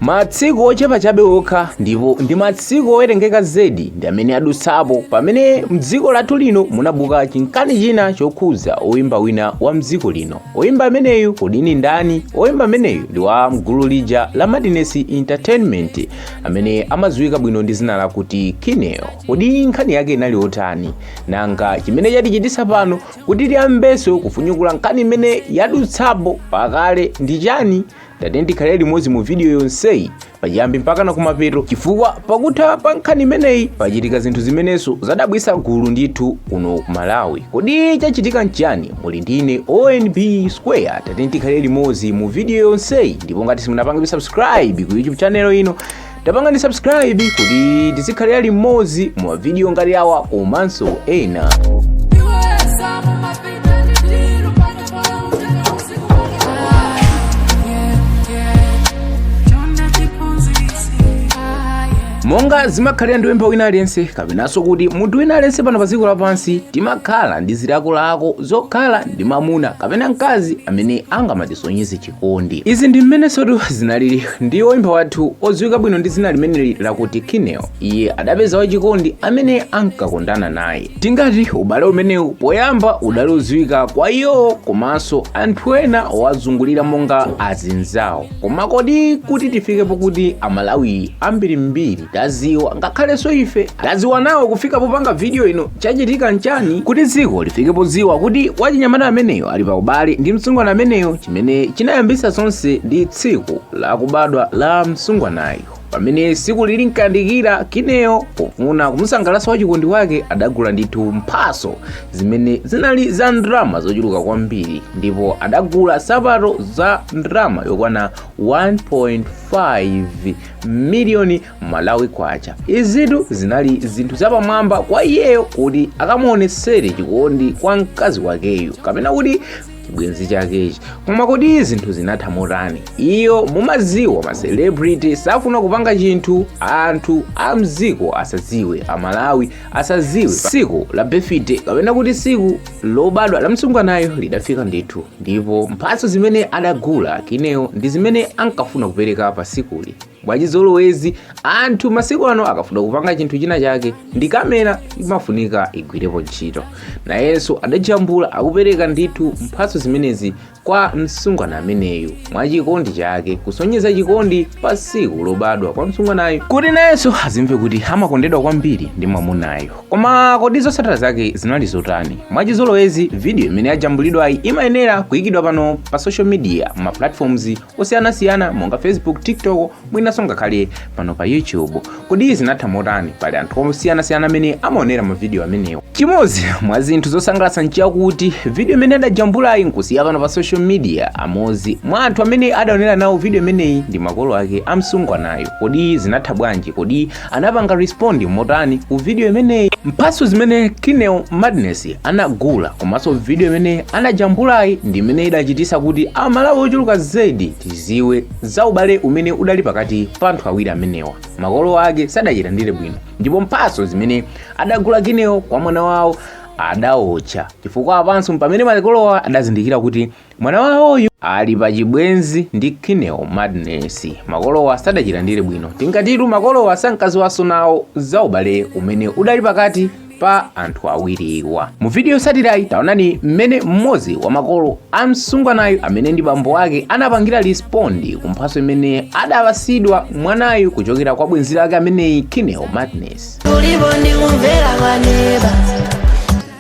Matsiku ochepa chabe okha ndipo ndi matsiku owerengeka zedi ndi amene adutsapo pamene mdziko lathu lino munabuka chinkani china chokhuza oyimba wina wa mdziko lino. Oyimba ameneyu kodi ndi ndani? Oyimba ameneyu ndi wa mgulu lija la Madness Entertainment amene amadziwika bwino ndi zina lakuti Kineo. Kodi nkhani yake inali otani? Nanga chimene chatichitisa pano kuti tiyambeso kufunyukula nkhani imene yadutsapo pakale ndi chani? tatiyeni tikhalire limodzi mu vidiyo yonseyi pachiyambi mpakana kumapeto chifukwa pakutha pa nkhani imeneyi pachitika zinthu zimenenso zadabwisa gulu ndithu kuno ku malawi kodi chachitika nchiyani muli ndi ine onb square tatiyeni tikhalire limodzi mu vidiyo yonseyi ndipo ngati simunapange subscribe ku youtube channel ino tapanganitu subscribe kuti tizikhalira limodzi mu mavidiyo ngati awa komanso ena monga zimakhalira ndi oyimba wina aliyense kapenanso kuti munthu wina aliyense pano pa dziko lapansi timakhala ndi zilakolako zokhala ndi mamuna kapena mkazi amene angamatisonyeze kondi. Izi ndi mmenesotu zinalili ndi woimba wathu odziwika bwino ndi zina limeneli lakuti Kineo. Iye adapeza wachikondi amene ankakondana naye. Tingati ubale umenewu poyamba udali odziwika kwa iwo komanso anthu ena owazungulira monga azinzawo. Koma kodi kuti tifike pokuti Amalawi ambirimbiri taziwa ngakhalenso ife taziwa nawo kufika popanga vidiyo ino chachitika nchani kuti dziko lifike podziwa kuti wachinyamata ameneyo ali pa ubale ndi msungwana ameneyo chimene chinayambisa zonse ndi tsiku la kubadwa la msungwanayo pamene siku lili nkandikira kineo pofuna kumusangalatsa wachikondi wake adagula ndithu mphaso zimene zinali za ndrama zochuluka kwambiri ndipo adagula sapato za ndrama yokwana 1.5 miliyoni malawi kwacha izitu zinali zinthu zapamwamba kwa iyeyo kuti akamuonesere chikondi kwa mkazi wakeyu kapena kuti chibwenzi chakechi koma kodi zinthu zinatha motani inu mumaziwa ma celebrity safuna kupanga chinthu anthu a mdziko asaziwe amalawi asaziwe siku la birthday kapena kuti siku lobadwa la msungwanayo lidafika ndithu ndipo mphatso zimene adagula kineo ndi zimene ankafuna kupereka pa sikuli mwachizolowezi anthu masiku ano akafuna kupanga chinthu china chake ndi kamera imafunika igwirepo ntchito nayenso adajambula akupereka ndithu mphatso zimenezi kwa msungwana ameneyu mwa chikondi chake kusonyeza chikondi pa siku lobadwa kwa msungwanayu kuti nayenso azimve kuti amakondedwa kwambiri ndi mwamunayo koma kodi zotsatira zake zinali zotani mwachizolowezi vidiyo imene yajambulidwayi imayenera kuyikidwa pano pa social media mma platforms osiyanasiyana monga facebook tiktok mwinanso ngakhale pano pa youtube kodi zinatha motani pali anthu osiyanasiyana amene amaonera mavidiyo amenewo chimodzi mwa zinthu zosangalatsa nchakuti vidiyo imene adajambulayi nkusiya pano pa social media amodzi mwa anthu amene adaonera nawo vidiyo imeneyi ndi makolo ake amsungwanayo kodi zinatha bwanji kodi anapanga respond motani ku video imeneyi mphatso zimene kineo madness anagula komanso video imene anajambulayi ndi imene idachitisa kuti amalawi ochuluka zedi tiziwe za ubale umene udali pakati pa anthu awiri amenewa makolo ake sadachilandire bwino ndipo mphatso zimene adagula kineo kwa mwana wawo adaotcha chifukwa apanso pamene makolowa adazindikira kuti Mwana wawoyu ali pa chibwenzi ndi Kineo Madness. Makolowa sadachilandire bwino. Tingatitu makolowa sankaziwanso nawo za ubale umene udali pakati pa anthu awiriwa. Mu video yotsatirayi taonani mmene mmodzi wa makolo a msungwanayu amene ndi bambo wake anapangira respond ku mphatso imene adapasidwa mwanayu kuchokera kwa bwenzi lake ameneyi Kineo Madness.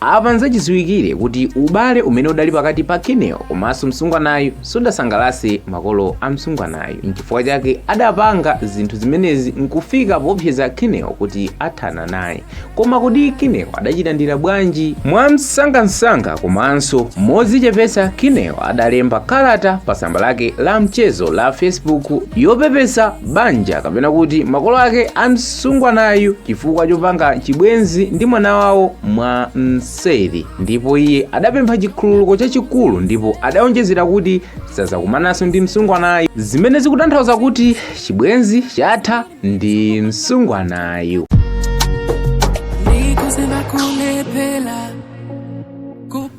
apa nzachidziwikire kuti ubale umene udali pakati pa kineo komanso msungwanayu sudasangalase makolo a msungwanayu nchifukwa chake adapanga zinthu zimenezi nkufika popseza kineo kuti athana naye koma kodi kineo adachilandira bwanji mwamsangamsanga komanso modzichepetsa kineo adalemba kalata pa tsamba lake la mchezo la facebook yopepesa banja kapena kuti makolo ake a msungwanayu chifukwa chopanga chibwenzi ndi mwana wawo mwa mseri ndipo iye adapempha chikhululuko chachikulu ndipo adaonjezera kuti sazakumananso ndi msungwanayu zimene zikutanthauza kuti chibwenzi chatha ndi msungwanayu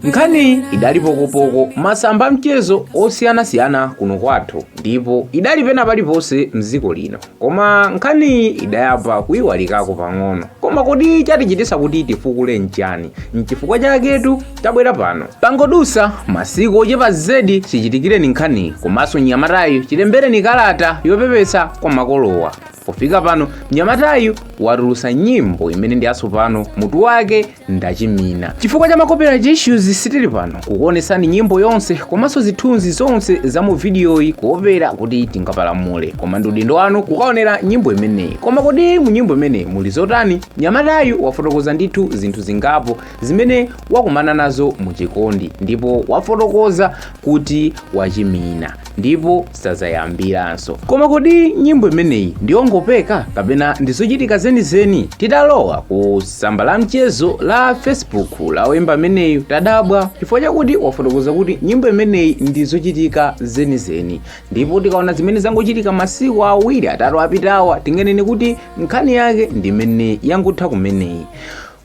nkhaniyi idali pokopoko masamba a mchezo osiyanasiyana kuno kwathu ndipo idali pena paliponse mdziko lino Koma nkhaniyi idayamba kuiwalikako pang'ono. Koma kodi chatichititsa kuti tifukule nchani? Nchifukwa chaketu tabwera pano. Pangodusa masiku ochepa zedi chichitikireni nkhaniyi komanso mnyamatayu chilembereni kalata yopepesa kwa makolowa. Pofika pano mnyamatayu watulutsa nyimbo imene ndi yatsopano mutu wake ndachimina chifukwa cha ma copyright issues sitili pano kukuonetsani nyimbo yonse komanso zithunzi zonse za mu vidiyoyi kuopera kuti tingapalamule koma ndi udindo wanu kukaonera nyimbo imeneyi koma kodi mu nyimbo imeneyi muli zotani mnyamatayu wafotokoza ndithu zinthu zingapo zimene wakumana nazo mu chikondi ndipo wafotokoza kuti wachimina ndipo sadzayambiranso. Koma kodi nyimbo imeneyi ndi yongopeka kapena ndi zochitika zenizeni? Titalowa ku tsamba la mchezo la Facebook la woimba ameneyu tadabwa chifukwa chakuti wafotokoza kuti nyimbo imeneyi ndi zochitika zenizeni, ndipo tikaona zimene zangochitika masiku awiri atatu apitawa tinganene kuti nkhani yake ndi imene yangotha kumeneyi.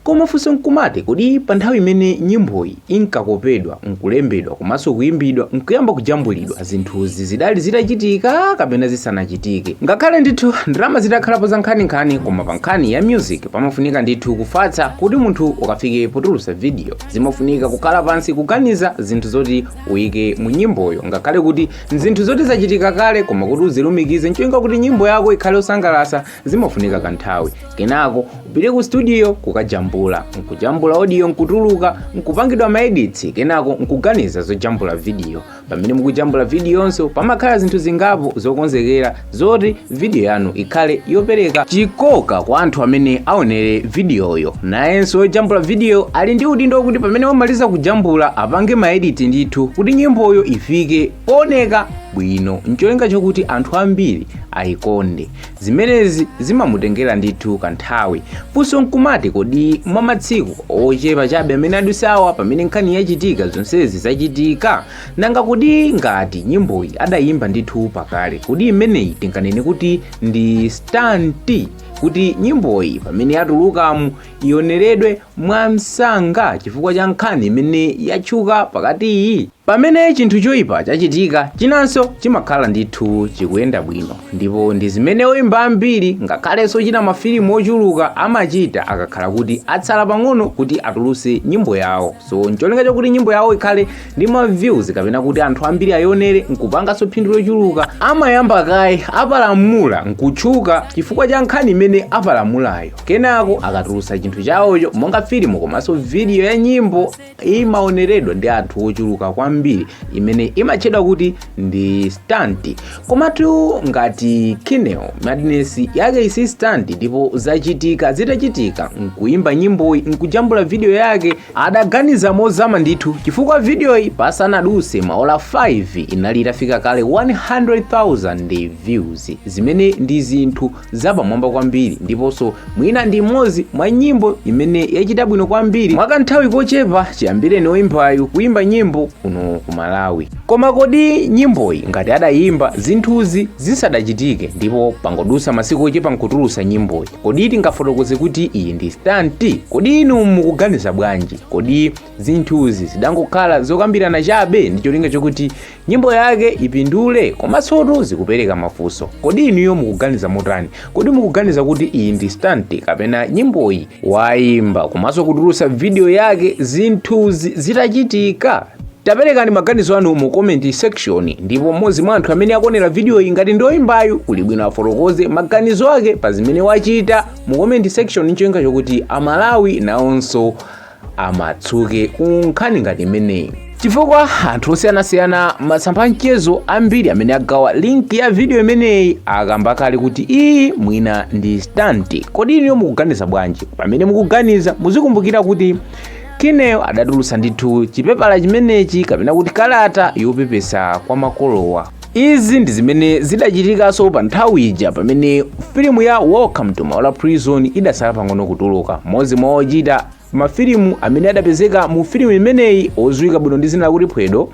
Koma funso n'kumati, kodi pa nthawi imene nyimboyi inkakopedwa n'kulembedwa komanso kuimbidwa n'kuyamba kujambulidwa, zinthuzi zidali zitachitika kapena zisanachitike? Ngakhale ndithu ndalama zitakhalapo zankhaninkhani, koma pa nkhani ya music pamafunika ndithu kufatsa kuti munthu ukafike potulutsa video. Zimafunika kukhala pansi kuganiza zinthu zoti uike mu nyimboyo ngakhale kuti n'zinthu zoti zachitika kale koma kuti uzilumikize n'cholinga kuti nyimbo yako ikhale yosangalatsa zimafunika kanthawi kenako upite ku studio kukajambula nkujambula audio nkutuluka nkupangidwa maeditsi kenako nkuganiza zojambula vidiyo pamene mukujambula vidiyonso pamakhala zinthu zingapo zokonzekera zoti vidiyo yanu ikhale yopereka chikoka kwa anthu amene aonere vidiyoyo nayenso wojambula vidiyo ali ndi udindo wakuti pamene wamaliza kujambula apange maediti ndithu kuti nyimboyo ifike pooneka bwino ncholinga chokuti anthu ambiri ayikonde Zimenezi zimamutengera ndithu kanthawi. Funso nkumati kodi mwa matsiku ochepa chabe amene adusawa pamene nkhani yachitika zonsezi zachitika? Nanga kodi ngati nyimboyi adayimba ndithu pakale, kodi imeneyi tinganene kuti ndi stanti? kuti nyimboyi pamene yatulukamu ioneredwe mwamsanga chifukwa cha nkhani imene yatchuka pakatiyi? Pamene chinthu choipa chachitika, chinanso chimakhala ndithu chikuyenda bwino ndipo ndi zimene oimba ambiri ngakhalenso ochita mafilimu ochuluka amachita akakhala kuti atsala pang'ono kuti atulutse nyimbo yawo so n'cholinga chokuti nyimbo yawo ikhale ndi ma views kapena kuti anthu ambiri ayionere n'kupanganso phindu lochuluka amayamba kaye apalamula n'kutchuka chifukwa cha nkhani imene apalamulayo kenako akatulutsa chinthu chawocho monga filimu komanso vidiyo ya nyimbo imaoneredwa ndi anthu ochuluka kwambiri imene imatchedwa kuti ndi stunt komatu ngati kineo madness yake si stunt ndipo zachitika zitachitika nkuyimba nyimboyi nkujambula video yake adaganiza mozama ndithu chifukwa videoyi pasanaduse maola 5 inali itafika kale 100,000 views zimene ndi zinthu zapamwamba kwambiri ndiponso mwina ndi imodzi mwa nyimbo imene yachita bwino kwambiri mwakanthawi kochepa chiyambireni oyimbayu kuyimba nyimbo kuno ku malawi koma kodi nyimboyi ngati adayimba zinthuzi zisadachitike ndipo pangodusa masiku ochepa nkutulusa nyimboyi kodi tingafotokoze kuti iyi ndi stanti kodi inu mukuganiza bwanji kodi zinthuzi zidangokhala zokambirana chabe ndi cholinga chokuti nyimbo yake ipindule komansotu zikupereka mafunso kodi inuyo mukuganiza motani kodi mukuganiza kuti iyi ndi stanti kapena nyimboyi wayimba komanso kutulutsa vidiyo yake zinthuzi zitachitika taperekani maganizo anu mu comment section ndipo mmodzi mwa anthu amene akonera vidiyo iyi ngati ndi oyimbayu kuli bwino afotokoze maganizo ake pa zimene wachita mu comment section ncholinga chokuti amalawi nawonso amasuke ku nkhani ngati imeneyi chifukwa anthu osiyanasiyana masamba amchezo ambiri amene agawa linki ya vidiyo imeneyi akamba kale kuti iyi mwina ndi stanti kodi inuyo mukuganiza bwanji pamene mukuganiza muzikumbukira kuti kineo adatulutsa ndithu chipepala chimenechi kapena kuti kalata yopepesa kwa makolowa Izi ndi zimene zidachitikanso pa nthawi ija pamene filimu ya Welcome to Maula Prison idatsala pang'ono kutuluka. Mmodzi mwa ochita mafilimu amene adapezeka mu filimu imeneyi odziwika bwino ndi dzina lakuti Phwedo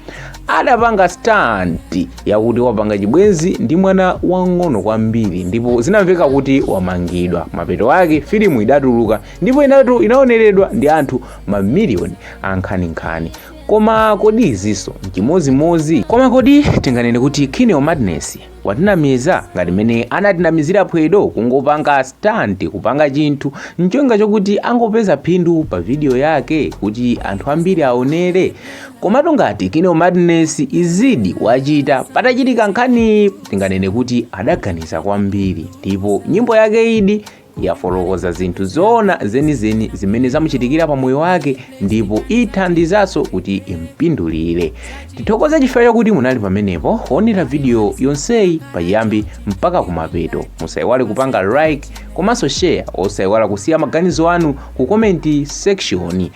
adapanga stunt yakuti wapanga chibwenzi ndi mwana wang'ono kwambiri ndipo zinamveka kuti wamangidwa. Mapeto ake filimu idatuluka ndipo inatu inaoneredwa ndi anthu mamiliyoni ankhaninkhani. koma kodi izinso nchimozimozi koma kodi tinganene kuti kineo madness watinamiza ngati mene anatinamizira phwedo kungopanga stunt kupanga chinthu ncholinga chokuti angopeza phindu pa video yake kuti anthu ambiri aonere komatu ngati kineo madness izidi wachita patachitika nkhani tinganene kuti adaganiza kwambiri ndipo nyimbo yake idi yafotokoza zinthu zoona zenizeni zimene zamuchitikira pa moyo wake ndipo ithandizanso kuti impindulire tithokoze chifukwa chakuti munali pamenepo kuonera vidiyo yonseyi pachiyambi mpaka kumapeto musayiwale kupanga like komanso share osayiwala kusiya maganizo anu ku comment section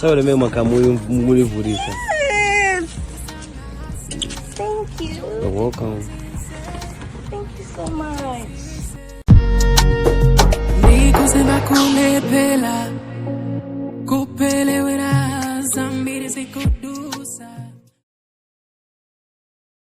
Sabe meu macamuyo mulivurisa. Thank you. You're welcome. Thank you so much. Nikusema kulepela kupelewera zambiri zikudu